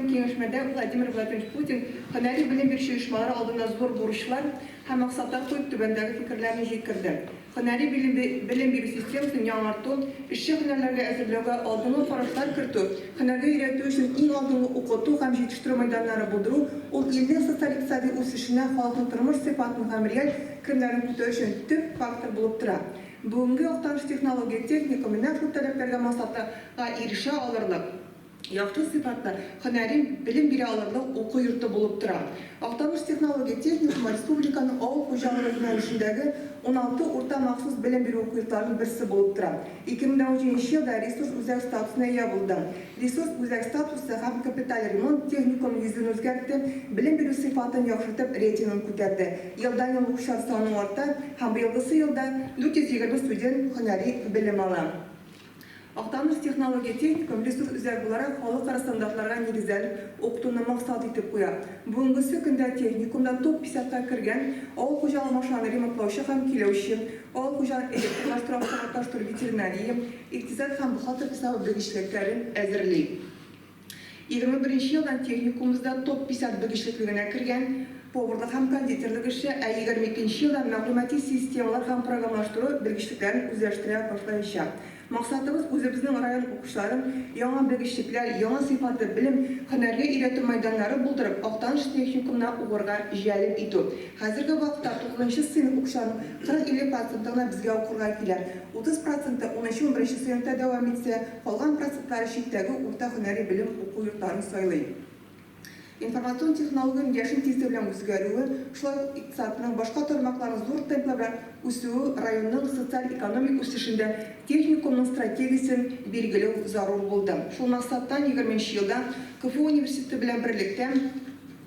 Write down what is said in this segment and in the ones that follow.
Киңәшмәдә Владимир Владимирович Путин һөнәри белем бирүче оешмалар алдына зур бурычлар һәм максатлар куеп түбәндәге фикерләрне җиткерде, Һөнәри белем бирү системасын яңарту, эшче һөнәрләргә әзерләүгә алдынгы карашлар кертү, һөнәргә өйрәтү өчен иң алдынгы укыту һәм җитештерү мәйданнары булдыру, ул илнең социаль-икътисади үсешенә халыкның тормыш сыйфатын һәм реаль керемнәрен күтәрү өчен төп фактор булып тора. Бүгенге Актаныш технология, техникум менә шул таләпләргә максатлы га ирешә алырлык. Яхшы сыйфатлы, һөнәри белем бирә алырлык уку йорты булып тора. Актаныш технология техникумы республиканың авыл хуҗалыгы юнәлешендәге уналты урта махсус белем бирү уку йортларының берсе булып тора. 2017 елда ресурс үзәк статусына ия булды. Ресурс үзәк статусы һәм капиталь ремонт техникум йөзен үзгәртте, белем бирү сыйфатын яхшыртып, рейтингын күтәрде. Елдан-ел укучылар саны арта һәм быелгысы елда 420 студент һөнәри белем ала. Актаныш технология-техникум ресурс үзәге буларак халыкара стандартларга нигезләнеп укытуны максат итеп куя. Бүгенгесе көндә техникумда топ десятка кергән авыл хуҗалыгы машиналарын ремонтлаучы һәм көйләүче, авыл хуҗалыгын электрлаштыру, автоматлаштыру, ветеринария, икътисад һәм бухгалтер хисабы белгечлекләрен әзерли. Егерме беренче елдан техникумыбызда топ-десять белгечлеклегенә кергән поварлык һәм кондитерлык эше, ә егерме икенче елдан мәгълүмати системалар һәм програмлаштыру белгечлекләрен үзләштерә башлаячак. Максатыбыз, үзебезнең район укучыларын яңа белгечлекләр, яңа сыйфатлы белем, һөнәргә өйрәтү мәйданнары булдырып, Актаныш техникумына укырга җәлеп итү. Хәзерге вакытта тугызынчы сыйныф укучыларының кырык-илле проценты гына безгә укырга килә. Утыз проценты унынчы-унберенче сыйныфта дәвам итсә, Калган процентлары читтәге урта һөнәри белем уку йортларын сайлый. Информацион технологиянең яшен тизлеге белән үзгәрүе, шулай ук икътисадның башка тармакларының зур темплар белән үсүе районның социаль-экономик үсешендә техникумның стратегиясен билгеләү зарур булды. Шул максаттан егерменче елда КФУ университеты белән берлектә,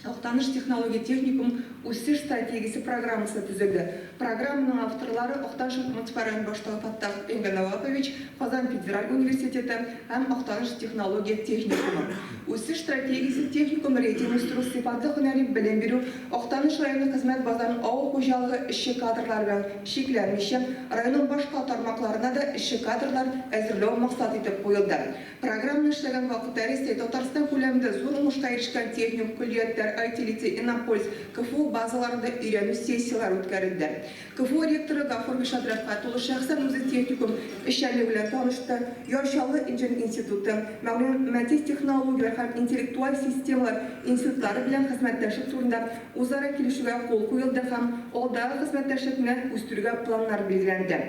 Актаныш технология техникум үсеш стратегиясе программасы төзелде. Программаның авторлары, Актаныш муниципаль район башлыгы Фаттах Энгәнәвапович, Казан федераль университеты һәм Актаныш технология техникумы. Үсеш стратегиясе техникум рейтинг үстерү, сыйфатлы һөнәри белем бирү, Актаныш районы хезмәт базарын авыл хуҗалыгы эшче кадрлары белән чикләнмичә, районның башка тармакларына да эшче кадрлар әзерләү максат итеп куелды. Програмны эшләгән вакытта Рәсәй, Татарстан күләмендә зур уңышка ирешкән техникум көллиятләр, IT-Лицей, Иннополис, КФУ базаларында өйрәнү сессияләре үткәрелде. КФУ ректоры Гафур Гыйшат Рәфкать улы шәхсән үзе техникум эшчәнлеге белән танышты, Яр Чаллы инженер институты, мәгълүмати технологияләр һәм интеллектуаль системалар институтлары белән хезмәттәшлек турында үзара килешүгә кул куелды һәм алдагы хезмәттәшлекне үстерүгә планнар билгеләнде.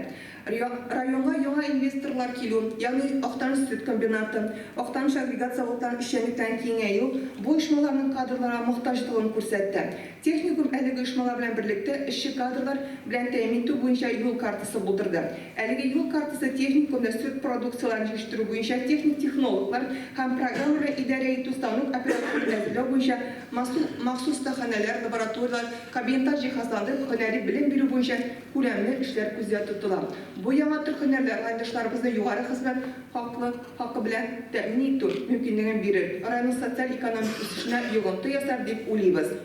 Районга яңа инвесторлар килү, ягъни Актаныш сөт комбинаты, Актаныш агрегат-заводтан эшчәнлектән киңәю бу оешмаларның кадрларга мохтаҗлыгын күрсәтте. Техникум әлеге оешмалар белән берлектә эшче кадрлар белән тәэмин итү буенча юл картасы булдырды. Әлеге юл картасы техникумда сөт продукцияләрен җитештерү буенча техник технологлар һәм программа белән идарә итү станок операторларын әзерләү буенча махсус остаханәләр, лабораторияләр, кабинетлар җиһазланды, һөнәри белем бирү буенча Күләмле эшләр күздә тотыла. Бу яңа төр һөнәрләр райондашларыбызны югары хезмәт хаклы хакы белән тәэмин итү мөмкинлеген бирер, районның социаль-экономик үсешенә йогынты ясар дип уйлыйбыз.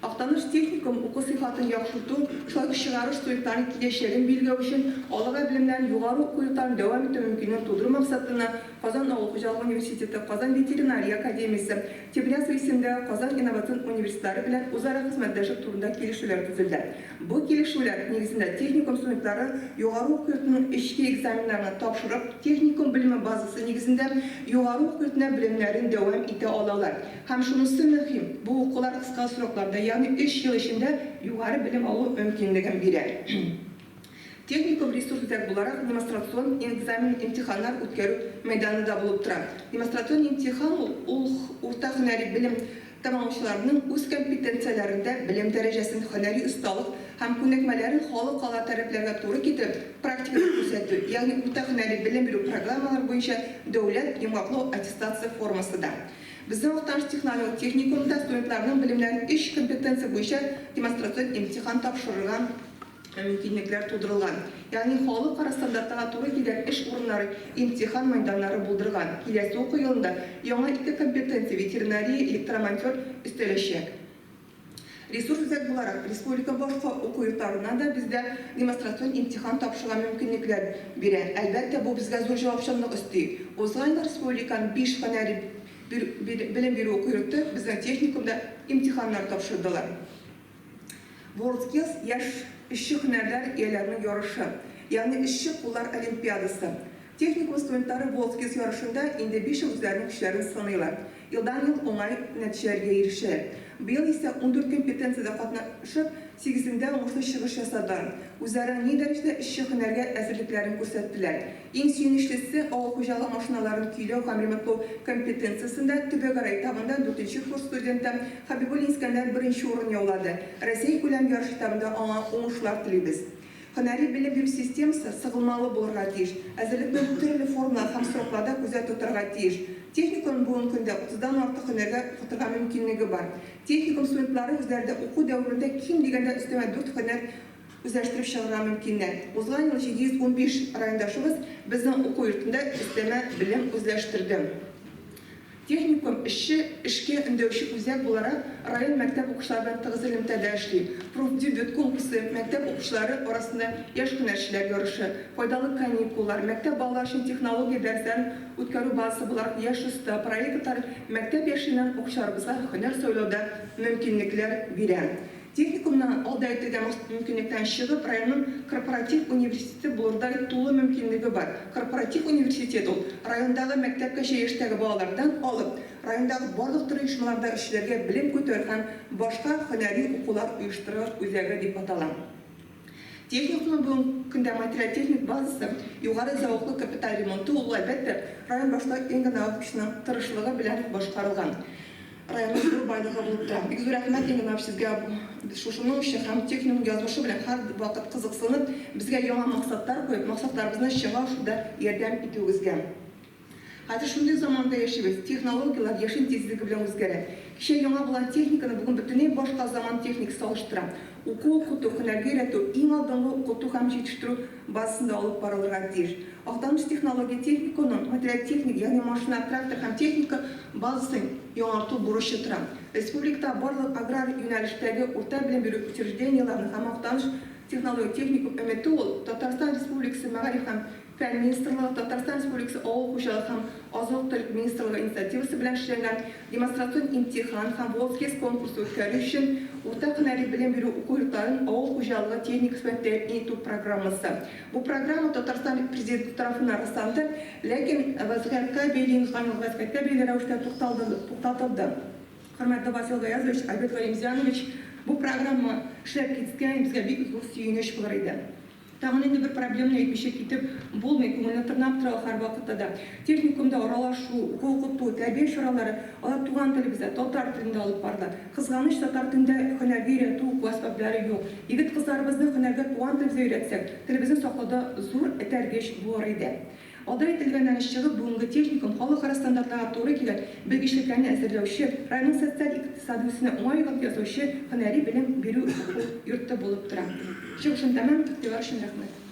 Актаныш техникум уку сыйфатын яхшырту, шулай ук чыгарыш студентларының киләчәген билгеләү өчен алыга белемнәрен югары уку йортларын дәвам итү мөмкинлеген тудыру максатына Казан авыл хуҗалыгы университеты, Казан ветеринария академиясе, Тимирязева исемендәге Казан инновацион университетлары белән үзара хезмәттәшлек турында килешүләр төзелде. Бу килешүләр нигезендә техникум студентлары югары уку йортының эчке экзаменнарны тапшырып, техникум белеме базасы нигезендә югары уку йортына белемнәрен дәвам итә алалар. Һәм шунысы мөһим, бу укулар кыска срокларда, ягъни өч ел эчендә югары белем алу мөмкинлеген бирә. Техникум ресурс-үзәк буларак демонстрацион экзамен-имтиханнар үткәрү мәйданы да булып тора. Демонстрацион имтихан ул, ул урта һөнәри белем Тәмамлаучыларның үз компетенцияләрендә белем дәрәҗәсен, һөнәри осталык һәм күнекмәләрен халыкара таләпләргә туры китереп практикада күрсәтү, ягъни урта һөнәри белем бирү программалары буенча дәүләт йомгаклау аттестация формасы да. Безнең Актаныш технолог техникумында студентларның белемнәрен өч компетенция буенча демонстрацион имтихан тапшырырга мөмкинлекләр тудырылган, ягъни халыкара стандартына туры килгән эш урыннары, имтихан мәйданнары булдырган. Киләсе уку елында яңа ике компетенция, ветеринария, электромонтер, өстәләчәк. Ресурс үзәк буларак, республика башка уку йортларына да бездә демонстрацион имтихан тапшырырга мөмкинлекләр бирә. Әлбәттә, бу безгә зур җавапчанлык өсти. Узган ел республиканың биш һөнәри белем бирү уку йорты безнең техникумда имтиханнар тапшырдылар. WorldSkills яшь эшче һөнәрләр ияләренең ярышы, ягъни эшче куллар олимпиадасы. Техникум студентлары WorldSkills ярышында инде биш ел үзләренең көчләрен сыныйлар. Елдан-ел уңай нәтиҗәләргә ирешәләр. Быел исә ундүрт компетенциядә катнашып, сигезендә уңышлы чыгыш ясадылар. Үзара ни дәрәҗәдә эшче һөнәргә әзерлекләрен күрсәттеләр. Иң сөенечлесе, авыл хуҗалыгы машиналарын көйләү һәм ремонтлау компетенциясендә төбәкара этабында дүртенче курс студенты Хәбибуллин Искәндәр беренче урын яулады. Россиякүләм ярыш этабында аңа уңышлар телибез. Һөнәри белем бирү системасы сыгылмалы булырга тиеш, әзерлекне төрле формалар һәм срокларда күздә тотарга тиеш. Техникумның бүгенге көндә утыздан артык һөнәргә укытырга мөмкинлеге бар. Техникум студентлары үзләре дә уку дәверендә ким дигәндә өстәмә дүрт һөнәр Үзләштереп чыгарга мөмкиннәр. Узган ел 715 райондашыбыз безнең уку йортында өстәмә белем үзләштерде. Техникум эшче, эшкә өндәүче үзәк буларак район мәктәп укучылары белән тыгыз элемтәдә эшли. Профдебют конкурсы, мәктәп укучылары арасында яшь һөнәрчеләр ярышы, файдалы каникуллар, мәктәп балалары өчен технология дәресләрен үткәрү базасы буларак Яшь оста проектлары мәктәп яшеннән укучыларыбызга һөнәр сайлауда мөмкинлекләр бирә. Техникумның, ул да әйтергә мохит мөмкинлектән чыгып, районның корпоратив университеты булырдай тулы мөмкинлеге бар. Корпоратив университет ул, райондагы мәктәпкәчә яшьтәге балалардан алып, райондагы барлык төрле оешмаларда эшләргә белем күтәрү һәм башка һөнәри укулар оештырыр үзәге дип атала. Техникумның бүгенге көндә материаль-техник базасы, югары зәвыклы капиталь ремонты, ул, әлбәттә, район башта ин генә укучының тырышлыгы белән башкарылган районның зур байлыгы булып тора. Бик зур рәхмәт ин генә сезгә шушының өчен һәм техникум язмышы белән һәрвакыт кызыксынып, безгә яңа максатлар куеп, максатларыбызны чынга ашыруда ярдәм итүегезгә. Хәзер шундый заманда яшибез, технологияләр яшен тизлеге белән үзгәрә. Кичә яңа булган техниканы бүген бөтенләй башка заман техникасы алыштыра. Уку-укыту, һөнәргә өйрәтү иң алдынгы укыту һәм җитештерү базасында алып барылырга тиеш. Актаныш технология техникумының материаль-техник, ягъни машина, трактор һәм техника базасын яңарту бурычы тора. Республикада барлык аграр юнәлештәге урта белем бирү учреждениеләренең һәм Актаныш технология техникум өмете ул, Татарстан Республикасы Мәгариф һәм Фән министрлыгы, Татарстан Республикасы Авыл хуҗалыгы һәм азык-төлек министрлыгы инициативасы белән эшләнгән демонстрацион имтихан һәм Волсгес конкурсы үткәрү өчен урта һөнәри белем бирү уку йортларын авыл хуҗалыгы техникасы белән тәэмин итү программасы. Бу программа Татарстан Президенты тарафыннан расланды, ләкин вәзгыятькә бәйле, инканлык вәзгыятькә бәйле рәвештә тукталды, туктатылды. Хөрмәтле Васил Гаязович, Альберт Галимзянович, бу программа эшләп киткән, безгә бик зур сөенеч булыр иде. Тагын инде бер проблеманы әйтмичә китеп булмый, күңелне тырнап тора ул һәрвакытта да. Техникумда аралашу, уку-укыту, тәрбия чаралары, алар туган телебездә, татар телендә алып барыла. Кызганыч, татар телендә һөнәргә өйрәтү, уку әсбаплары юк. Егет-кызларыбызны һөнәргә туган телебездә өйрәтсәк, телебезне саклауда зур этәргеч булыр иде. Алда әйтелгәннән үз чыгып, бүгенге техникум халыкара стандартларга туры килә, белгечлекләрне әзерләүче, районның социаль-икътисади үсүенә уңай йогынты ясаучы һөнәри белем бирү уку йорты булып тора. Чыгышым тәмам, игътибар өчен рәхмәт.